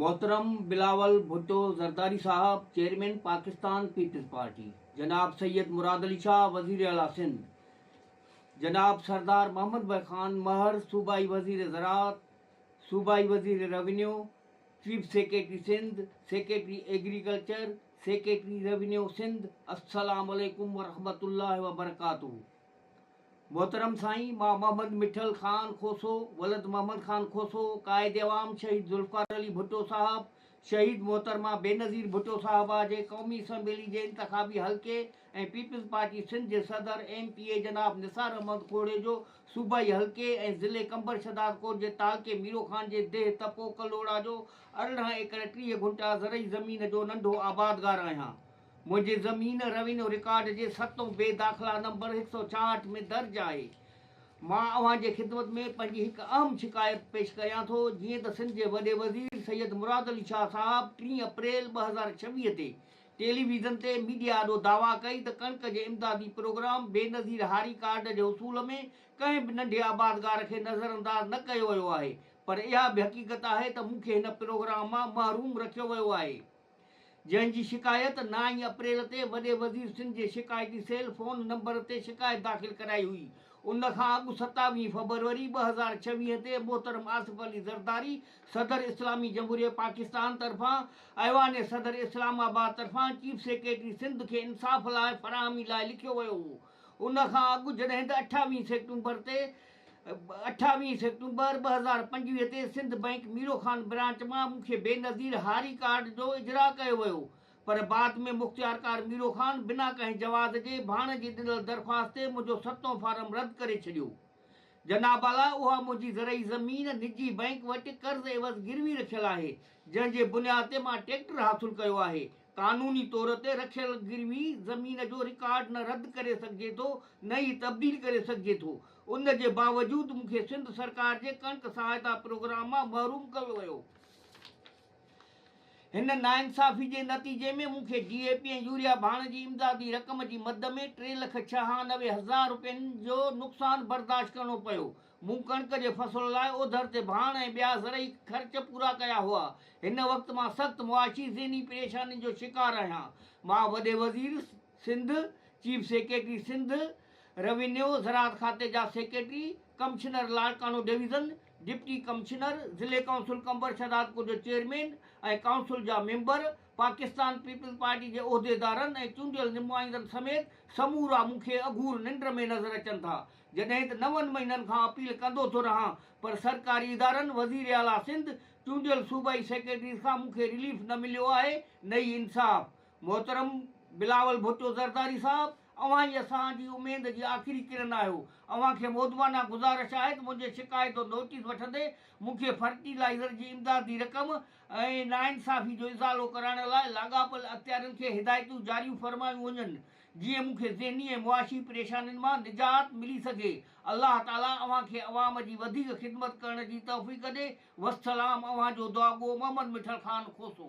محترم بلاول ڀٽو زرداري صاحب chairman Pakistan peoples party, جناب سيد مراد علي شاهه وزير اعليٰ سنڌ، جناب سردار محمد بخش خان مهر صوبائي وزير زراعت، صوبائي وزير revenue, chief secretary Sindh, secretary agriculture, secretary revenue Sindh, السلام عليڪم ورحمة الله وبرڪاته. محترم سائين مان محمد مٺل خان کوسو ولد محمد خان کوسو قائد عوام شهيد ذوالفقار علي ڀٽو صاحب شهيد محترمه بينظير ڀٽو صاحبه جي قومي اسمبلي جي انتخابي حلقي ۽ پيپلز پارٽي سنڌ جي صدر ايم پي اي جناب نثار احمد کوڙي جو صوبائي حلقي ۽ ضلعي قمبر شھدادڪوٽ جي تعلقي ميرو خان جي ديھ تپو ڪلھوڙا جو ارڙهن ايڪڙ ٽيھ گھنٽا زرعي زمين جو ننڍو آبادگار آھيان منهنجي زمين روينيو رڪارڊ جي ستون بي داخلا نمبر هڪ سؤ چاهٺ ۾ درج آهي. مان اوهان جي خدمت ۾ پنهنجي هڪ اهم شڪايت پيش ڪريان ٿو جيئن ته سنڌ جي وڏي وزير سيد مراد علي شاهه صاحب ٽي اپريل ٻه هزار ڇويهه تي ٽيلي ويزن تي ميڊيا آڏو دعويٰ ڪئي ته ڪڻڪ جي امدادي پروگرام بينظير هاري ڪارڊ جي حصول ۾ ڪنهن به ننڍي آبادگار کي نظرانداز نه ڪيو ويو آهي پر اها به حقيقت آهي ته مون کي هن پروگرام مان محروم رکيو ويو آهي. جنهن جي شڪايت نائين اپريل تي وڏي وزير سنڌ جي شڪايتي سيل فون نمبر تي شڪايت داخل ڪرائي هئي. ان کان اڳ ستاويهه فبروري ٻه هزار ڇويهه تي محترم آصف علي زرداري صدر اسلامي جمهوريه پاڪستان طرفان ايوان صدر اسلام آباد طرفان چيف سيڪريٽري سنڌ کي انصاف لاء فراهمي لاء لکيو ويو هو. ان کان اڳ جڏهن ته اٺاويهه سيڪٽمبر تي اٺاويهه سيپٽمبر ٻه هزار پنجويهه تي سنڌ بئنڪ ميرو خان برانچ مان مون کي بينظير هاري ڪارڊ جو اجراء ڪيو ويو پر بعد ۾ مختيارڪار ميرو خان بنا ڪنهن جواز جي ڀاڻ جي ڏنل درخواست تي منهنجو ستون فارم رد ڪري ڇڏيو جناب اعليٰ اها منهنجي زرعي زمين نجي بئنڪ وٽ قرض عيوض گروي رکيل آهي جنهن جي بنياد تي مان ٽريڪٽر حاصل ڪيو آهي قانوني طور تي رکيل گروي زمين جو رڪارڊ نه رد ڪري سگهجي ٿو نه ئي تبديل ڪري سگهجي ٿو ان جي باوجود مون کي سنڌ سرڪار جي ڪڻڪ سهائتا پروگرام مان محروم ڪيو ويو هن ناانصافي جي نتيجي ۾ مون کي ڊي اي پي ۽ يوريا ڀاڻ جي امدادي رقم جي مد ۾ ٽي لک ڇهانوي هزار رپين جو نقصان برداشت ڪرڻو پيو مون ڪڻڪ جي فصل لاء اوڌر تي ڀاڻ ۽ ٻيا زرعي خرچ پورا ڪيا هئا. هن وقت مان سخت معاشي ذهني پريشانين جو شڪار آهيان. مان وڏي وزير Sindh, chief secretary Sindh, revenue, زراعت کاتي جا secretary, commissioner Larkana division, deputy commissioner, ضلعي ڪائونسل قمبر شهدادپور جو چيئرمين ۽ ڪائونسل جا ميمبر، پاڪستان پيپلز پارٽي جي عهديدارن ۽ چونڊيل نمائندن سميت سمورا مون کي اگهور ننڊ ۾ نظر اچن ٿا. جڏهن ته نون مهينن کان اپيل ڪندو ٿو رهان پر سرڪاري ادارن، وزير اعليٰ سنڌ، چونڊيل صوبائي سيڪريٽريز کان مون کي رليف نه مليو آهي نه ئي انصاف. محترم بلاول ڀٽو زرداري صاحب اوهان ئي اسان جي اميد جي آخري ڪرن آهيو، اوهان کي مؤدبانه گذارش آهي ته منهنجي شڪايت جو نوٽيس وٺندي مون کي فرٽي لائيزر جي امدادي رقم ۽ ناانصافي جو ازالو ڪرائڻ لاء لاڳاپيل اختيارين کي هدايتون جاريون فرمايون وڃن جيئن مون کي ذهني ۽ معاشي پريشانين مان نجات ملي سگهي الله تعالي اوهان کي عوام جي وڌيڪ خدمت ڪرڻ جي توفيق ڏي وسلام اوهان جو دعاگو محمد مٺل خان کوسو.